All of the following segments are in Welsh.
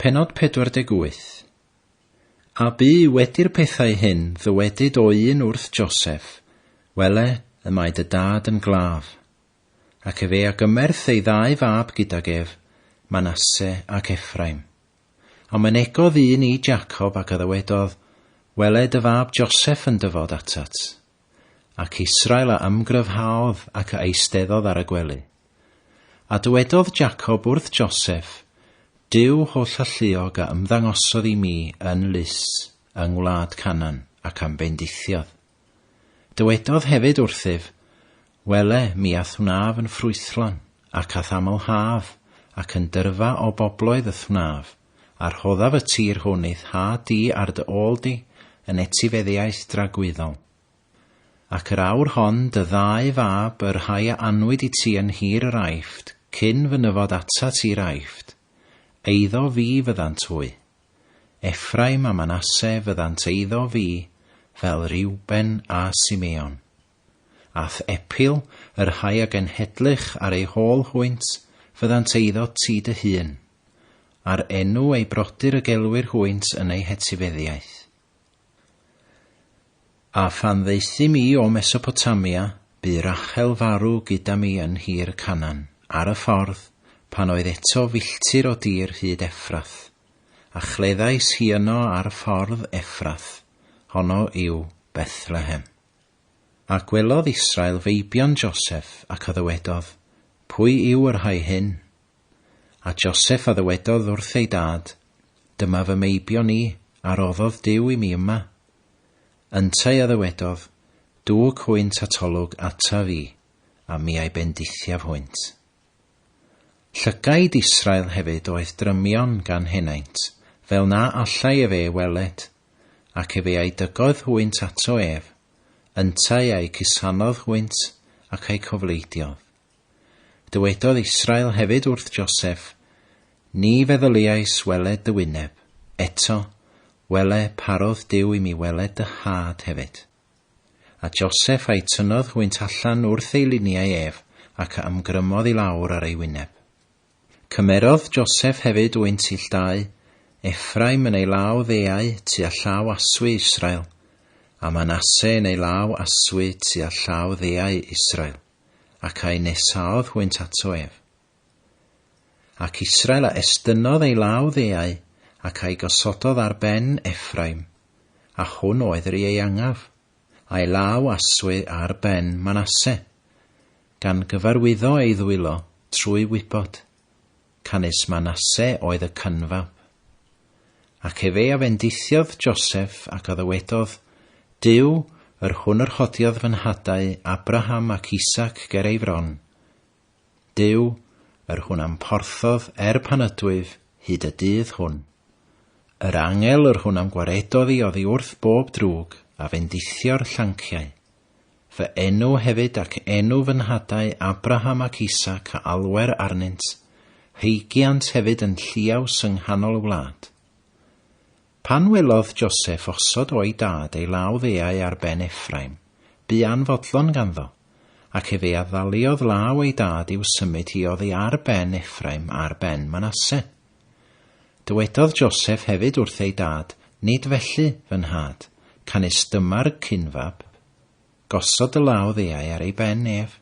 Pennod 48 A bu wedi'r pethau hyn ddywedyd o un wrth Joseph, Wele, y mae dy dad yn glaf. Ac efe a gymerth ei ddau fab gydag ef, Manasse ac Ephraim. A mynegodd un i Jacob ac a ddywedodd, Wele dy fab Joseph yn dyfod atat. Ac Israel a ymgryfhaodd ac a eisteddodd ar y gwely. A dywedodd Jacob wrth Joseph, Duw holl alluog a ymddangosodd i mi yn Lus, yng ngwlad Canan, ac a'm bendithiodd. Dywedodd hefyd wrthyf, Wele, mi a'th wnaf yn ffrwythlon, ac a'th amlhaf, ac yn dyrfa o bobloedd y'th wnaf, a rhoddaf y tir hwn i'th nhad di ar dy ôl di yn etifeddiaeth dragwyddol. Ac yr awr hon dy ddau fab, y rhai a anwyd i ti yn nhir yr Aifft, cyn fy nyfod atat i'r Aifft, eiddo fi fyddant hwy. Effraim a Manasse fyddant eiddo fi, fel Reuben a Simeon. A'th epil, y rhai a genhedlych ar eu hôl hwynt, fyddant eiddo ti dy hun. A'r enw ei brodyr y gelwir hwynt yn ei hetifeddiaeth. A phan ddaethum mi o Mesopotamia, bu Rachel farw gyda mi yn nhir Canan, ar y ffordd, pan oedd eto filltir o dir hyd Effrath, a chleddais hi yno ar ffordd Effrath, honno yw Bethlehem. A gwelodd Israel feibion Joseph, ac a ddywedodd, Pwy yw y rhai hyn? A Joseph a ddywedodd wrth ei dad, Dyma fy meibion i, a roddodd Duw i mi yma. Yntau a ddywedodd, Dwg hwynt atolwg ataf i, a mi a'i bendithiaf hwynt. Llygaid Israel hefyd oedd drymion gan henaint, fel na allai ef e weled, ac efe a'i dygodd hwynt ato ef, yntau a'i cusanodd hwynt, ac a'i cofleidiodd. Dywedodd Israel hefyd wrth Joseph, Ni feddyliais weled dy wyneb, eto, wele, parodd Duw i mi weled dy nhad hefyd. A Joseph a'i tynnodd hwynt allan wrth ei liniau ef, ac a ymgrymodd i lawr ar ei wyneb. Cymerodd Joseph hefyd wynt ill dau, Ephraim yn ei law ddeau tua llaw aswy Israel, a Manasse yn ei law aswy tua llaw ddeau Israel. ac a'i nesaodd hwynt ato ef. Ac Israel a estynnodd ei law ddeau, ac a'i gosododd ar ben Ephraim, a hwn oedd yr ieuangaf, a'i law aswy ar ben Manasse, gan gyfarwyddo ei ddwylo trwy wybod, canys Manasse oedd y cynfab. Ac efe a fendithiodd Joseph ac a ddywedodd, Duw, yr hwn yr hodiodd fy nhadau Abraham ac Isaac ger ei fron, Duw, yr hwn am porthodd er pan ydwyf hyd y dydd hwn. Yr angel yr hwn am gwaredodd i oddi wrth bob drwg a fendithio'r llanciau. Fy enw hefyd ac enw fy nhadau Abraham ac Isaac a alwer arnynt, heigiant hefyd yn lluaws yng nghanol y wlad. Pan welodd Joseff osod o'i dad ei law ddeau ar ben Effraim, bu anfodlon ganddo, ac efe a ddaliodd law ei dad i'w symud hi oddi ar ben Effraim ar ben Manasse. Dywedodd Joseph hefyd wrth ei dad, Nid felly, fy nhad, canys dyma'r cyn-fab. Gosod dy law ddeau ar ei ben ef.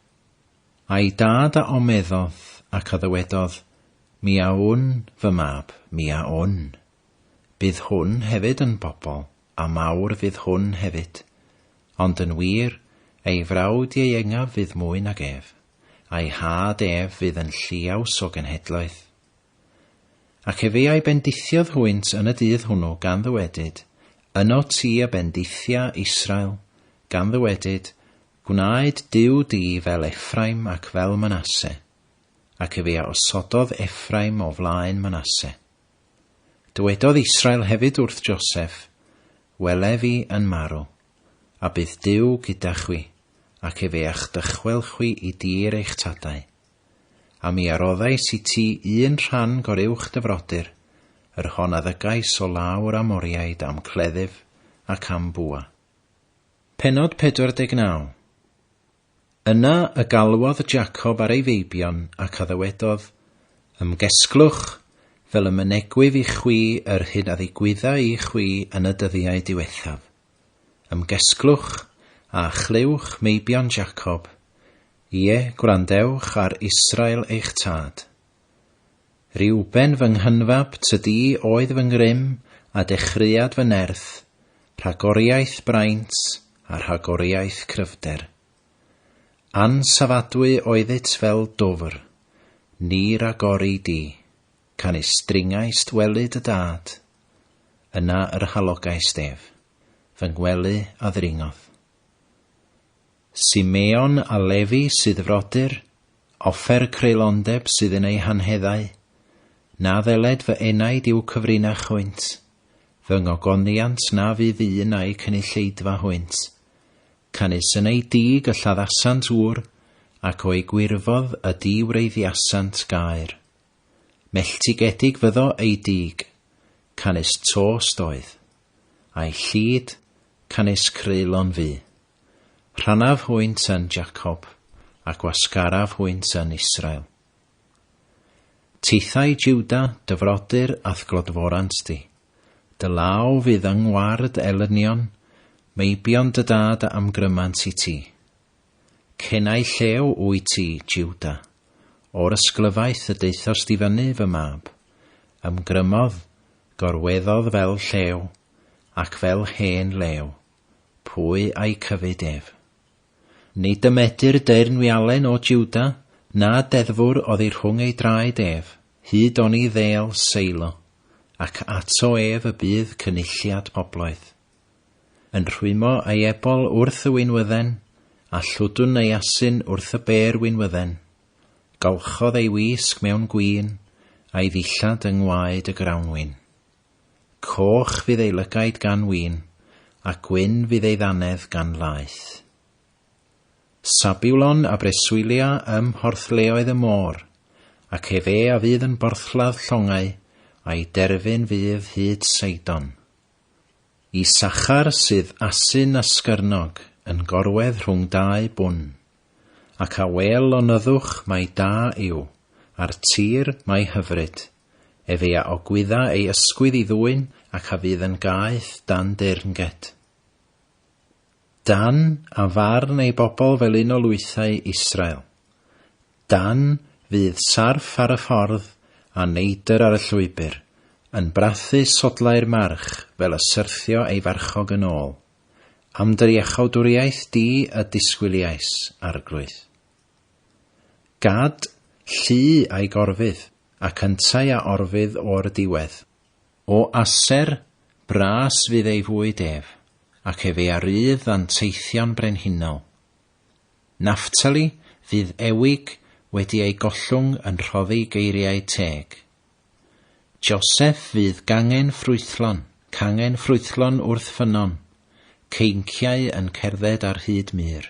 A'i dad a omeddodd, ac a ddywedodd, Mi a wn, fy mab, mi a wn. Bydd hwn hefyd yn bobl, a mawr fydd hwn hefyd. Ond yn wir, ei frawd ieuengaf fydd mwy nag ef, a'i nhad ef fydd yn lliaws o genhedloedd. Ac efe a'i bendithiodd hwynt yn y dydd hwnnw, gan ddywedyd, Yno ti a bendithia Israel, gan ddywedyd, Gwnaed Duw di fel Effraim ac fel Manasse. Ac efe a osododd Effraim o flaen Manasse. Dywedodd Israel hefyd wrth Joseph, Wele fi yn marw, a bydd Duw gyda chwi, ac efe a'ch dychwel chwi i dir eich tadau. A mi a roddais i ti un rhan goruwch dy frodyr, yr hon a ddygais o law yr Amoriaid am cleddyf ac am bwa. Pennod 49 Yna y galwodd Jacob ar ei feibion ac a ddywedodd, Ymgesglwch, fel y mynegwyf i chwi yr hyn a ddigwydda i chwi yn y dyddiau diwethaf. Ymgesglwch, a chlywch, meibion Jacob, Ie, gwrandewch ar Israel eich tad. Reuben fy nghynfab tydi oedd fy ngrym a dechreuad fy nerth, rhagoriaeth braint a rhagoriaeth cryfder. Ansafadwy oeddyt fel dwfr, ni ragori di, canys dringaist welyd y dad, yna yr halogaist ef, fy ngwely a ddringodd. Simeon a Lefi sydd frodyr, offer creulondeb sydd yn eu hanheddau. Na ddyled fy enaid i'w cyfrinach hwynt, fy ngogoniant na fydd un a'u cynulleidfa hwynt. Canys yn eu dug y lladdasant ŵr, ac o'u gwirfodd y diwreiddiasant gaer. Melltigedig fyddo eu dug, canys tost oedd. A'i llid, canys creulon fu. Rhannaf hwynt yn Jacob, a gwasgaraf hwynt yn Israel. Tithau Juda, dy frodyr a'th glodforant di. Dy law fydd yng ngward elynion, meibion dy dad a amgrymant i ti. Cenau llew wyt ti, Juda, o'r ysglyfaeth y daethost i fyny, fy mab. Ymgrymodd, gorweddodd fel llew, ac fel hen lew. Pwy a'i cyfyd ef? Ni dymedir deyrnwialen o Jwda, na deddfwr oddi rhwng ei draed ef, hyd oni ddêl Seilo, ac ato ef y bydd cynulliad pobloedd. Yn rhwymo ei ebol wrth y winwydden, a llwdwn ei asyn wrth y bêr winwydden. Golchodd ei wisg mewn gwin, a'i ddillad yng ngwaed y grawnwin. Coch fydd ei lygaid gan win, a gwyn fydd ei ddannedd gan laeth. Sabulon a breswylia ym mhorthleoedd y môr, ac efe a fydd yn borthladd llongau, a'i derfyn fydd hyd Seidon. Isachar sydd asyn a sgyrnog, yn gorwedd rhwng dau bwn. Ac a wêl lonyddwch mai da yw, a'r tir mai hyfryd, Efe a ogwydda ei ysgwydd i ddwyn ac a fydd yn gaeth dan deyrnged. Dan a farn ei bobl fel un o lwythau Israel. Dan fydd sarff ar y ffordd a neidr ar y llwybr, yn brathu sodlau'r march fel y syrthio ei farchog yn ôl. Am dy iachawdwriaeth di y disgwyliais, Arglwydd. Gad llu a'i gorfydd. ac yntau a orfydd o'r diwedd. O aser, bras fydd ei fwyd ef, ac efe a rydd anteithion brenhinol. Naftali fydd ewig wedi ei gollwng yn rhoddi geiriau teg. Joseph fydd gangen ffrwythlon, cangen ffrwythlon wrth ffynnon, ceinciau yn cerdded ar hyd mur.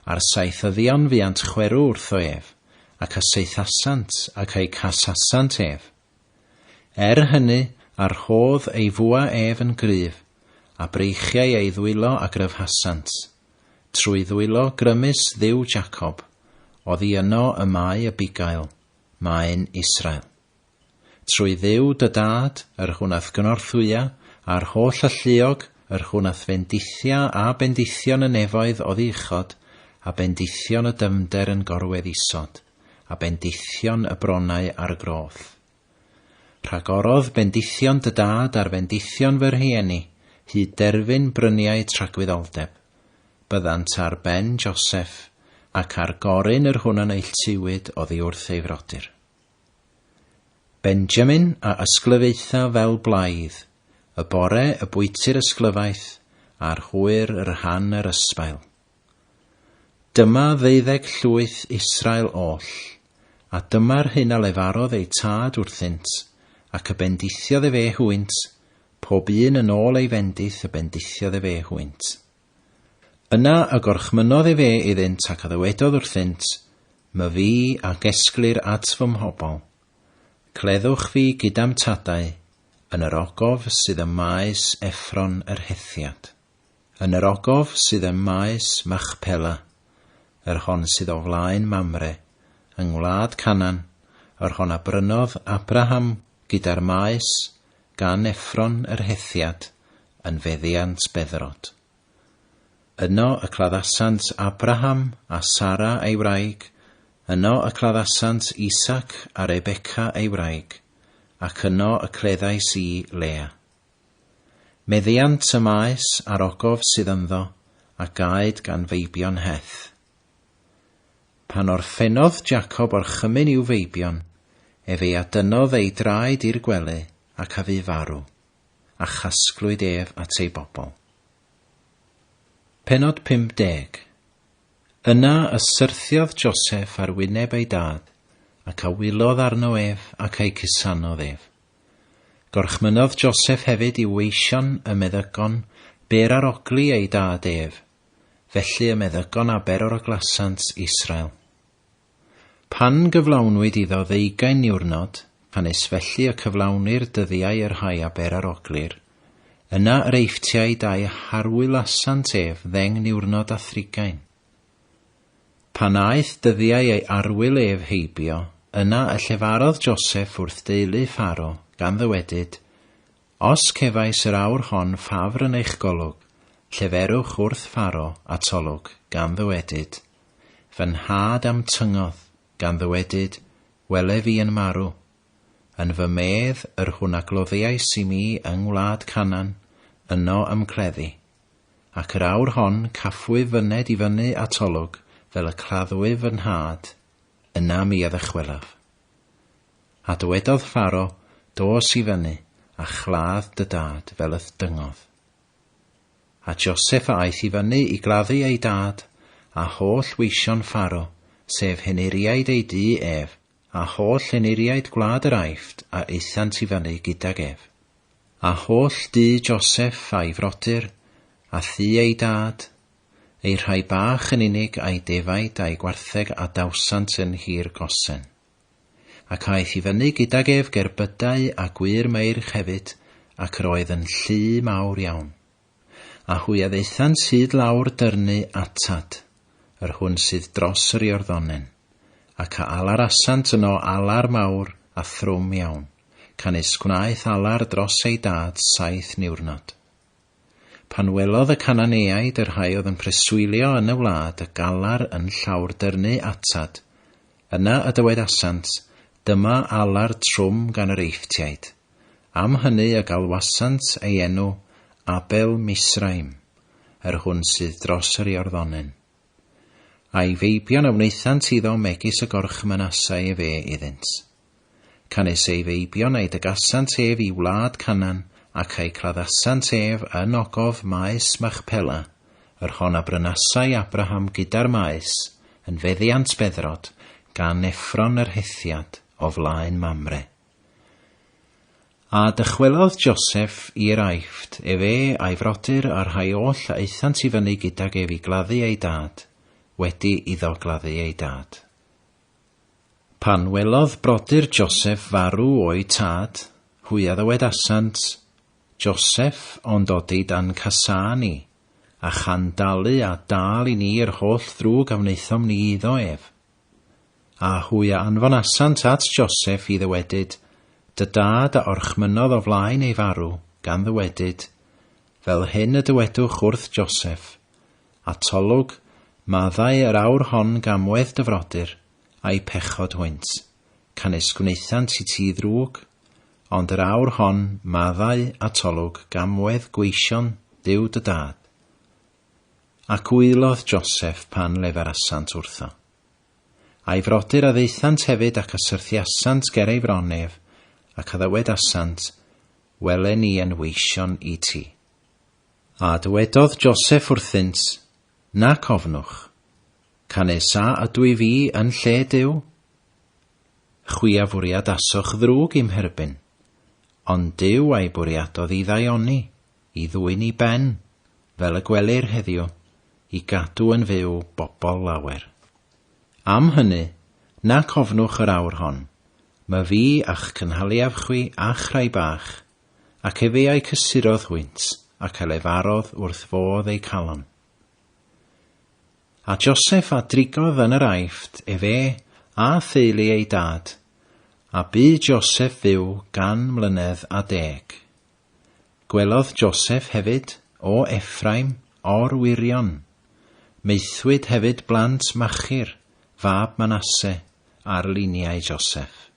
A'r saethyddion fuant chwerw wrtho ef, ac a saethasant ac a'u casasant ef. Er hynny, a rhodd ei fwa ef yn gryf, a breichiai ei ddwylo a gryfhasant, trwy ddwylo grymus Dduw Jacob, oddi yno y mae y bugail, maen Israel. Trwy Dduw dy Dad, yr hwn a'th gynorthwya, a'r holl alluog, yr hwn a'th fendithia a bendithion y nefoedd oddi uchod, a bendithion y dyfnder yn gorwedd isod, a bendithion y bronnau ar y groth. Rhagorodd bendithion dy dad ar fendithion fy rhieni, hyd derfyn bryniau tragwyddoldeb. Byddant ar ben Joseph, ac ar Gorin yr hwn a neilltuwyd oddi wrth ei frodyr. Benjamin a ysglyfaetha fel blaidd, y bore y bwyty'r ysglyfaeth a'r hwyr y rhan yr ysbail. Dyma ddeuddeg llwyth Israel oll, a dyma'r hyn a lefarodd eu tad wrthynt, ac y bendithiodd efe hwynt, pob un yn ôl ei fendith y bendithiodd efe hwynt. Yna y gorchmynnodd efe iddynt ac a ddywedodd wrthynt, My fi a gesglir at fy mhobl. Cleddwch fi gyda'm tadau, yn yr ogof sydd ym maes Effron yr Hethiad, yn yr ogof sydd ym maes Machpela, yr hon sydd o flaen Mamre, yng ngwlad Canan, yr hon a brynodd Abraham gyda'r maes, gan Effron yr Hethiad yn feddiant Bedderot. Yno y claddasant Abraham a Sara ei wraig, yno y claddasant Isaac a Rebeca ei wraig, ac yno y cleddais i Lea. Meddiant y maes a'r ogof sydd ynddo, a gaed gan feibion Heth. Pan orffennodd Jacob orchymyn i'w feibion, ef ei adynnodd ei draed i'r gwely, ac a fu farw, a chasglwyd ef at ei bobl. Pennod 50 Yna y syrthiodd Joseph ar wyneb ei dad, ac a wylodd arno ef, ac a'i cusanodd ef. Gorchmynnodd Joseph hefyd i'w weision y meddygon bêr ar ogli ei dad ef, felly y meddygon aber oraglasant Israel. Pan gyflawnwyd iddo ddeugain niwrnod, canys felly y cyflawnir dyddiau y rhai aber aroglir, yna yr eifftiau dau harwylasant ef ddeng niwrnod a thrigain. Pan aeth dyddiau ei arwyl ef heibio, yna y llefarodd Joseph wrth deulu Pharo, gan ddywedyd, Os cefais yr awr hon ffafr yn eich golwg, lleferwch wrth Pharo a Tolwg, gan ddywedyd, Fy nhad a'm tyngodd, gan ddywedyd, Wele fi yn marw. Yn fy medd, yr hwn a gloddiais i mi yng ngwlad Canan, yno ymcleddi. Ac yr awr hon cafwyf fy ned i fyny a Tolwg fel y claddwyf fy nhad, yna mi a ddychwelaf. A dywedodd Pharo, Dos i fyny, a chladd dy dad fel y'th dyngodd. A Joseph a aeth i fyny i gladdu ei dad, a holl weision Pharo, sef henuriaid ei dŷ ef, a holl henuriaid gwlad yr Aifft a aethant i fyny gydag ef. A holl dŷ Joseph a'i frodyr, a thŷ ei dad, eu rhai bach yn unig a'i defaid a'i gwartheg a dawsant yn Nhir Gosen. Ac aeth i fyny gydag ef gerbydau a gwŷr meirch hefyd, ac yr oedd yn llu mawr iawn. A hwy a ddaethant hyd lawr dyrnu atad, yr hwn sydd dros yr Iorddonen, ac a alarasant yno alar mawr a thrwm iawn, canys gwnaeth alar dros ei dad saith niwrnod. Pan welodd y Cananeaid y rhai oedd yn preswylio yn y wlad y galar yn llawrdyrnu atad, yna y dywedasant, Dyma alar trwm gan yr Eifftiaid. Am hynny y galwasant ei enw Abel Misraim, yr hwn sydd dros yr Iorddonyn. A'i feibion a wnaethant iddo megis y gorchmynasai efe iddynt. Canys ei feibion a'i dygasant ef i wlad Canan, ac a'i claddasant ef yn ogof maes Machpela, yr hon a brynasai Abraham gyda'r maes, yn feddiant beddrod, gan Effron yr Hethiad, o flaen Mamre. A dychwelodd Joseff i'r Aifft, efe a'i frodyr a'r rhai oll a aethant i fyny gydag ef i gladdu ei dad, wedi iddo gladdu ei dad. Pan welodd brodyr Joseff farw o'u tad, hwy a ddywedasant, Joseff o'n dodi dan casáu ni, a chan dalu a dâl i ni yr holl ddrwg a wnaethom ni iddo ef. A hwy a anfonasant at Joseph i ddywedyd, Dy dad a orchmynnodd o flaen ei farw, gan ddywedyd, Fel hyn y dywedwch wrth Joseph, Atolwg, maddau yr awr hon gamwedd dy frodyr, a'u pechod hwynt, canys gwnaethant i ti ddrwg, ond yr awr hon, maddau, atolwg, gamwedd gweision Dduw dy dad, Ac wylodd Joseff pan leferasant wrtho. A'i frodyr a ddaethant hefyd ac a syrthiasant ger ei fron ef, ac a ddywedasant, Wele ni yn weision i ti. A dywedodd Joseff wrthynt, Nac ofnwch, canys a ydw i fi yn lle Duw? Chwi a fwriadasoch ddrwg i'm herbyn, ond Duw a'i bwriadodd i ddaioni. i ddwyn i ben, fel y gwelir heddiw, i gadw yn fyw bobl lawer. Am hynny, nac ofnwch yr awr hon, my fi a'ch cynhaliaf chwi a'ch rhai bach, ac efe a'i cysurodd hwynt, ac a lefarodd wrth fodd eu calon. A Joseph a drigodd yn yr Aifft, efe a theulu ei dad, a bu Joseph fyw gan mlynedd a deg. Gwelodd Joseph hefyd, o Effraim, or-wyrion. Maethwyd hefyd blant Machir, fab Manasse, ar liniau Joseph.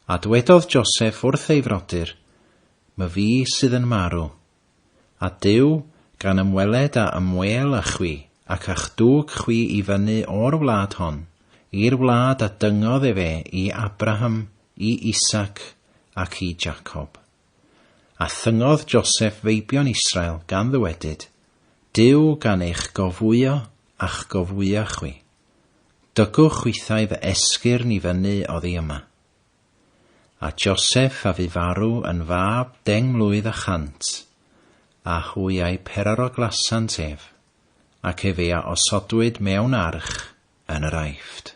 A dwedodd Joseph wrth ei frodyr, My fi sydd yn marw. A Duw, gan ymweled a ymwêl â chwi, ac a'ch dwg chwi i fyny o'r wlad hon, i'r wlad a dyngodd efe i Abraham, i Isaac, ac i Jacob. A thyngodd Joseph feibion Israel gan ddywedyd, Duw gan eich gofwyo a'ch gofwya chwi. Dygwch chwithau fy esgyrn i fyny oddi yma. A Joseph a fu farw yn fab deng mlwydd a chant, a hwy a'i peraroglasant ef, ac efe a osodwyd mewn arch yn yr Aifft.